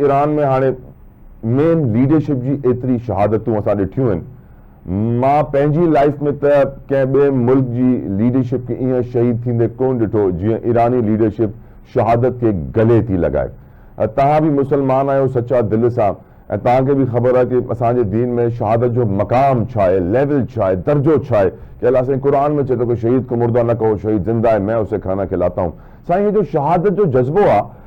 Iran ۾ هاڻي main leadership جي ايتري شهادتون اسان ڏٺيون آهن مان پنهنجي لائيف ۾ ته ڪنهن ٻئي ملڪ جي ليڊرشپ کي ايئن شهيد ٿيندي ڪون ڏٺو جيئن ايراني ليڊرشپ شهادت کي گلي ٿي لڳائي توهان به مسلمان آهيو سچا دل سان ۽ توهان کي به خبر آهي ڪي اسان جي دين ۾ شهادت جو مقام ڇا آهي ليول ڇا آهي درجو ڇا آهي ڪي الله سائين قرآن ۾ چئي ٿو ڪي شهيد ڪو مردو نه ڪهو شهيد زنده هي مين اسي کانا کلاتا هون سائين هي جو شهادت جو جذبو آهي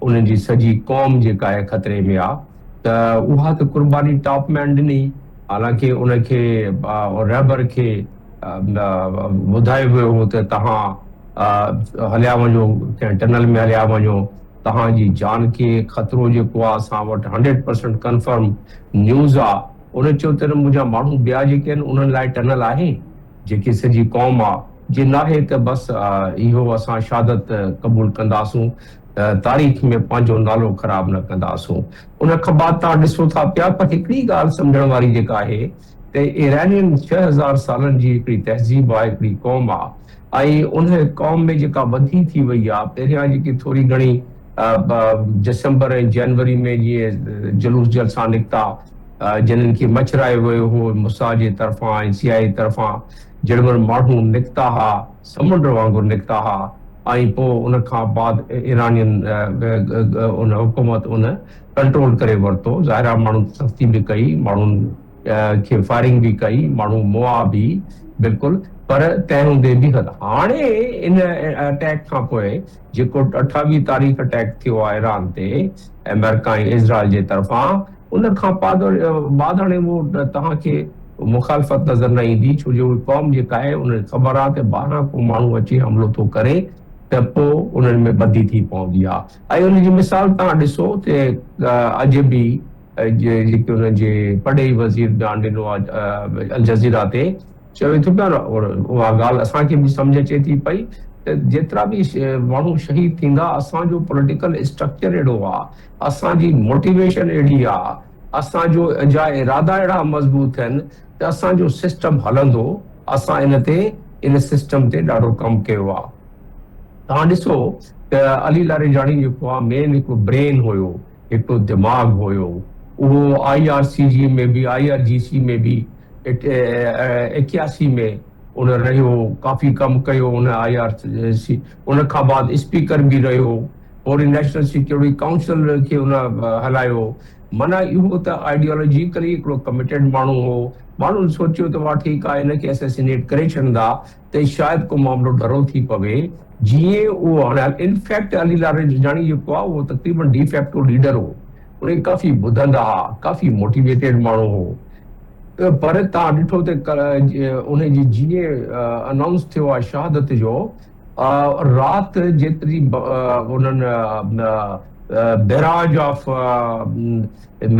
انهن جي سڄي قوم جيڪا هي خطري ۾ آ ته اها ته قرباني ٽاپ مين ڏني حالانڪه ان کي رهبر کي ٻڌايو ويو هو ته توهان هليا وڃو ڪنهن ٽنل ۾ هليا وڃو توهان جي جان کي خطرو جيڪو آ اسان وٽ هنڊريڊ پرسنٽ ڪنفرم نيوز آ انهن چيو ته منهنجا ماڻهو ٻيا جيڪي آهن انهن لاء ٽنل آهي جيڪي سڄي قوم آ. جي ناهي ته بس اهو اسان شهادت قبول ڪنداسون ته تاريخ ۾ پنهنجو نالو خراب نه ڪنداسون. ان کانبعد تان ڏسو ٿا پيا پر هڪڙي ڳالهه سمجهڻ واري جيڪا آهي ته ايرانين ڇهه هزار سالن جي هڪڙي تهذيب آ هڪڙي قوم آ ۽ انهي قوم ۾ جيڪا وڌي ٿي وئي آ پهريان جيڪي ٿوري گهڻي ڊسمبر ۽ جنوري ۾ جيئن جلوس جلسا نڪتا جنھن کي مچرايو ويو ھو موساد جي طرفان ۽ سي آء اي طرفان جڙوڻ ماڻھو نڪتا ھا سمنڊ وانگر نڪتا ھا ۽ پوء ان کان بعد ايرانين ان حڪومت ان ڪنٽرول ڪري ورتو ظاھرا ماڻھن تي سختي به ڪئي ماڻھن کي فائرنگ به ڪئي ماڻهو موئا به بلڪل پر تنهن هوندي به هل هاڻي ان اٽيڪ کان پوء جيڪو اٺاويهه تاريخ اٽيڪ ٿيو آهي ايران تي امريڪا ۽ اسرائيل جي طرفان ان کان بعد هاڻي اهو توهان کي مخالفت نظر نه ايندي ڇو جو اهي قوم جيڪا آهي ان کي خبر آهي ته ٻاهران ڪو ماڻهو اچي حملو ٿو ڪري ته پوء انهن ۾ ٻڌي ٿي پوندي آهي ۽ ان جي مثال توهان ڏسو ته اڄ به لکيو جي پرڏيهي وزير جان ڊنو الجزيره تي چيو ٿو ته اها ڳالهه اسان کي به سمجهه اچي ٿي پئي ته جيترا به ماڻهو شهيد ٿيندا اسان جو پوليٽيڪل اسٽرڪچر اهڙو آ اسان جي موٽيويشن اهڙي آ اسان جو جا ارادا اهڙا مضبوط ٿين ته اسان جو سسٽم هلندو اسان ان تي ان سسٽم تي ڏاڍو ڪم ڪيو آ توهان ڏسو ته علي لاريجاڻي جيڪو آ مين هڪ برين هيو هڪڙو دماغ هيو اهو آئي آر سي جي ۾ به آئي آر جي سي ۾ به ايڪياسي ۾ ان رهيو ڪافي ڪم ڪيو ان آئي آر سي ان کان بعد اسپيڪر به رهيو پوري نيشنل سيڪيورٽي ڪائونسل کي ان هلايو معنيٰ اهو ته آئيڊيالوجيڪلي هڪڙو ڪميٽيڊ ماڻهو هو ماڻهن سوچيو ته واهه ٺيڪ آهي هن کي اسيسينيٽ ڪري ڇڏندا تي شايد ڪو معاملو ڍرو ٿي پوي جيئن اهو هاڻي ان فيڪٽ علي لاري جوجاڻي جيڪو آهي اهو تقريبن ڊي فيڪٽو ليڊر هو انهي ڪافي ٻڌندا ها ڪافي موٽيويٽيڊ ماڻهو هو پر تان ڏٺو ته انهي جي جيئن انائونس ٿيو آهي شهادت جو رات جيتري انهن بيراج آف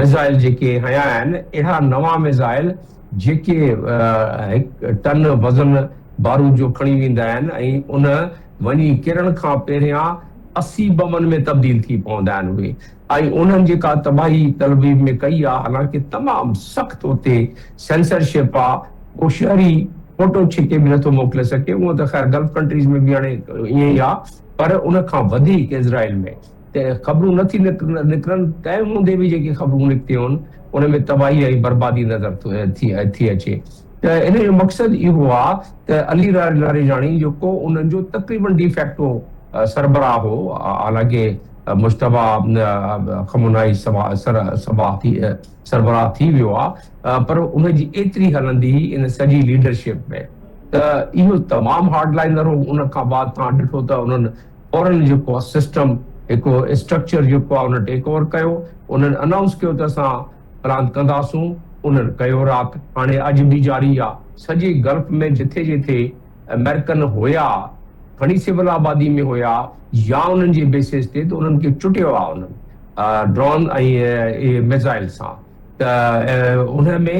ميزائل جيڪي هنيا آهن اهڙا نوان ميزائل جيڪي هڪ ٽن وزن بارود جو کڻي ويندا آهن ۽ ان وڃي ڪرڻ کان پهريان اسي بمن ۾ تبديل ٿي پوندا آهن اهي ۽ انهن جيڪا تباهي تلابيب ۾ ڪئي آهي حالانڪه تمام سخت اتي سينسر شپ آهي ڪو شهري فوٽو ڇڪي به نٿو موڪلي سگهي هونئن ته خير گلف ڪنٽريز ۾ به هاڻي ائين ئي آهي پر ان کان وڌيڪ اسرائيل ۾ ته خبرون نه ٿي نڪرن، تنهن هوندي به جيڪي خبرون نڪتيون، ان ۾ تباهي ۽ بربادي نظر ٿي اچي ته ان جو مقصد اهو آ ته علي لاريجاڻي جيڪو انهن جو تقريبن ڊي فيڪٽو سربراهه هو، حالانڪه مجتبيٰ خمنائي صبا ٿي سربراهه ٿي ويو آ، پر ان جي ايتري هلندي هئي ان سڄي ليڊرشپ ۾ ته اهو تمام هارڊ لائنر هو، ان کان بعد توهان ڏٺو ته انهن فورن جيڪو آ سسٽم هڪ اسٽرڪچر جيڪو آ انهن ٽيڪ اوور ڪيو انهن انائونس ڪيو ته اسان پلان ڪنداسون انهن ڪيو رات هاڻي اڄ به جاري آ سڄي گلف ۾ جٿي جٿي امريڪن هيا کڻي سول آبادي ۾ هيا يا انهن جي بيسز تي ته انهن کي چٽيو آ انهن ڊرون ۽ ميزائل سان ته ان ۾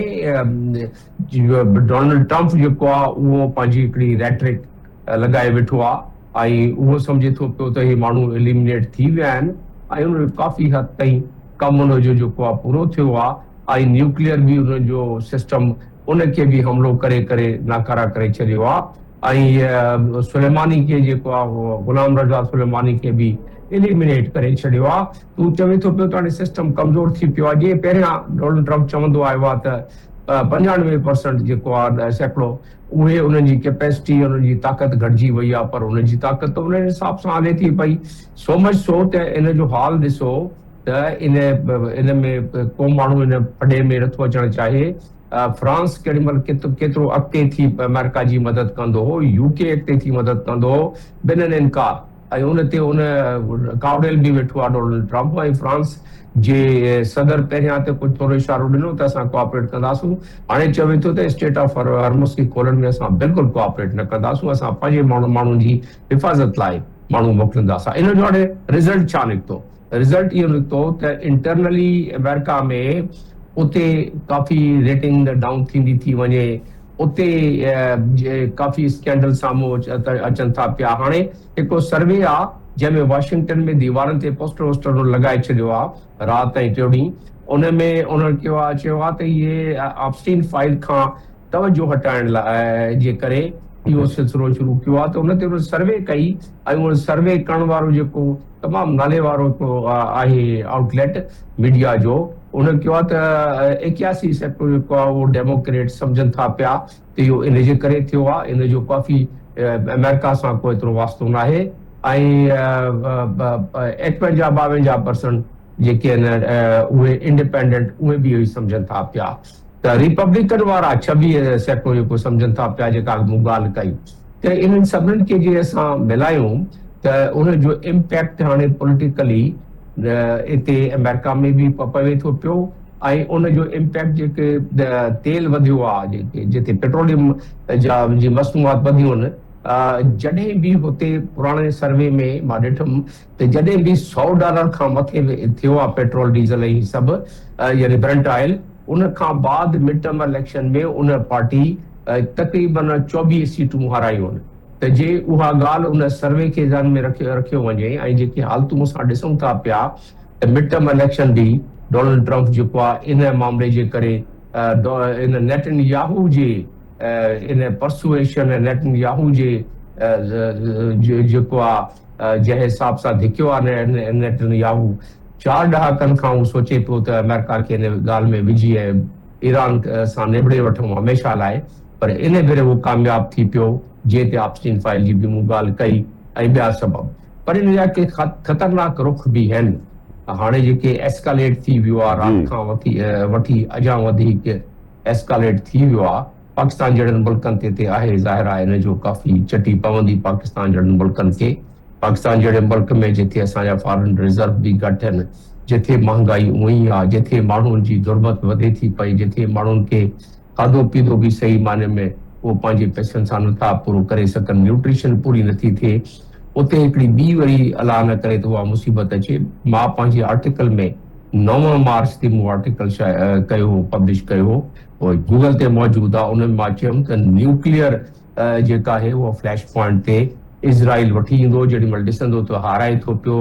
ڊونلڊ ٽرمپ جيڪو آ اهو پنهنجي هڪڙي ريٽرڪ لڳائي ويٺو آ ۽ اهو سمجهي ٿو پيو ته هي ماڻهو اليمنيٽ ٿي ويا آهن ۽ انهن جو ڪافي حد تائين ڪم انهن جو جيڪو آ پورو ٿيو آ ۽ نيوڪليئر به انهن جو سسٽم ان کي به حملو ڪري ڪري ناڪارا ڪري ڇڏيو آ ۽ سليماني کي جيڪو آ غلام رضا سليماني کي به اليمنيٽ ڪري ڇڏيو آ ته هو چوي ٿو پيو ته هاڻي سسٽم ڪمزور ٿي پيو آ جيئن پهريان ڊونلڊ ٽرمپ چوندو آيو آ ته پنجاڻوي پرسنٽ جيڪو آ سيڪڙو اهي انهن جي ڪيپيسٽي يا انهن جي طاقت گهٽجي وئي آهي پر انهن جي طاقت ته انهن حساب سان هلي ٿي پئي سو مچ سو ته ان جو حال ڏسو ته ان ان ۾ ڪو ماڻهو ان ڦڏي ۾ نٿو اچڻ چاهي فرانس ڪهڙي مهل ڪيترو اڳتي ٿي آمريڪا جي مدد ڪندو هو يو ڪي اڳتي ٿي مدد ڪندو هو بنهن انڪار ۽ ان تي هن ڪاوڙيل به ويٺو آهي ڊونلڊ ٽرمپ ۽ فرانس جي صدر پهريان ته ڪجهه ٿورو اشارو ڏنو ته اسان ڪوآپريٽ ڪنداسون هاڻي چوي ٿو ته اسٽيٽ آف هرمز کي کولڻ ۾ اسان بلڪل ڪوآپريٽ نه ڪنداسون اسان پنهنجي ماڻهن جي حفاظت لاء ماڻهو موڪلينداسا ان جو هاڻي رزلٽ ڇا نڪتو رزلٽ اهو نڪتو ته انٽرنلي امريڪا ۾ اتي ڪافي ريٽنگ ڊائون ٿيندي ٿي وڃي اتي ڪافي اسڪينڊل سامهون اچن ٿا پيا. هاڻي هڪڙو سروي آ جنهن ۾ واشنگٽن ۾ ديوارن تي پوسٽر ووسٽر هن لڳائي ڇڏيو آ رات ۽ ٽيو ڏينهن ان ۾ انهن ڪيو آ چيو آ ته اهي آپسٽين فائيل کان توجهه هٽائڻ لاء جي ڪري اهو سلسلو شروع ڪيو آ ته ان تي انهن سروي ڪئي ۽ ان سروي ڪرڻ وارو جيڪو تمام ناليوارو آهي آئوٽ ليٽ ميڊيا جو انهن چيو آهي ته ايڪياسي سيڪٽر جيڪو آهي اهو ڊيموڪريٽ سمجهن ٿا پيا ته اهو ان جي ڪري ٿيو آهي ان جو ڪافي آمريڪا سان ڪو ايترو واسطو ناهي ۽ ايڪونجا ٻاونجا پرسنٽ جيڪي آهن اهي انڊيپينڊنٽ اهي به اهو ئي سمجهن ٿا پيا ته ريپبليڪن وارا ڇويهه سيٽون اهو ڪو سمجهن ٿا پيا جيڪا اڳ مون ڳالهه ڪئي ته انهن سڀنن کي جي اسان ملايون ته ان جو امپيڪٽ هاڻي پوليٽيڪلي اتي امريڪا ۾ به پوي ٿو پيو ۽ ان جو امپيڪٽ جيڪي تيل وڌيو آهي جيڪي جتي پيٽروليم جا جي مصنوعات وڌيون آهن جڏهن به هتي پراڻي سروي ۾ مان ڏٺم ته جڏهن به سؤ ڊالر کان مٿي ٿيو آهي پيٽرول ڊيزل ۽ هي سڀ يعني برنٽ آئل ان کان بعد مڊ ٽرم اليڪشن ۾ ان پارٽي تقريبن چوويهه سيٽون هارايون ته جي اها ڳالهه ان سروي کي ذهن ۾ رکيو وڃي ۽ جيڪي حالتون اسان ڏسون ٿا پيا ته مڊ ٽرم اليڪشن به ڊونلڊ ٽرمپ جيڪو آهي ان معاملي جي ڪري ان نيٽن ياهو جي ان پرسوئيشن نيٽن ياهو جي جيڪو آهي جنهن حساب سان ڌڪيو آهي نيٽن ياهو، چار ڏهاڪن کان هو سوچي پيو ته آمريڪا کي ان ڳالهه ۾ وجهي ۽ ايران سان نبيڙي وٺون هميشه لاء، پر ان ڀيري هو ڪامياب ٿي پيو، جنهن تي آپسٽين فائل جي به مون ڳالهه ڪئي ۽ ٻيا سبب. پر ان جا ڪي خطرناڪ رخ به هين. هاڻي جيڪي ايسڪاليٽ ٿي ويو آهي، رات کان وٺي اڄان وڌيڪ ايسڪاليٽ ٿي ويو آهي. پاڪستان جهڙن ملڪن تي تي آهي ظاهر آهي ان جو ڪافي چٽي پوندي پاڪستان جهڙن ملڪن کي پاڪستان جهڙي ملڪ ۾ جٿي اسان جا فارن ريزرو به گهٽ هن جٿي مهانگائي اوهين ئي آهي جٿي ماڻهون جي غربت وڌي ٿي پئي جٿي ماڻهون کي کاڌو پيتو به صحيح معني ۾ اهو پنهنجي پئسن سان نٿا پورو ڪري سگهن نيوٽريشن پوري نٿي ٿئي اتي هڪڙي ٻي وري الله نه ڪري ته اها مصيبت اچي مان پنهنجي آرٽيڪل ۾ نو مارچ تي مون آرٽيڪل شايع ڪيو هو پبلش ڪيو هو پوء گوگل تي موجود آ ان ۾ مان چيم ته نيوڪليئر جيڪا آهي اها فليش پوائنٽ تي اسرائيل وٺي ايندو جيڏي مھل ڏسندو ته هارائي ٿو پيو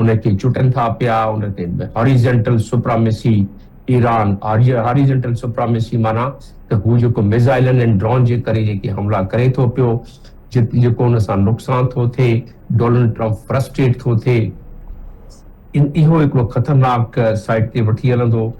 ان کي چٽن ٿا پيا ان تي horizontal supremacy Iran horizontal supremacy معنيٰ ته هو جيڪو ميزائلن ۽ ڊرون جي ڪري جيڪي حملا ڪري ٿو پيو جيڪو ان سان نقصان ٿو ٿئي ڊونلڊ ٽرمپ فرسٽريٽ ٿو ٿئي اهو هڪڙو خطرناڪ سائيٽ تي وٺي هلندو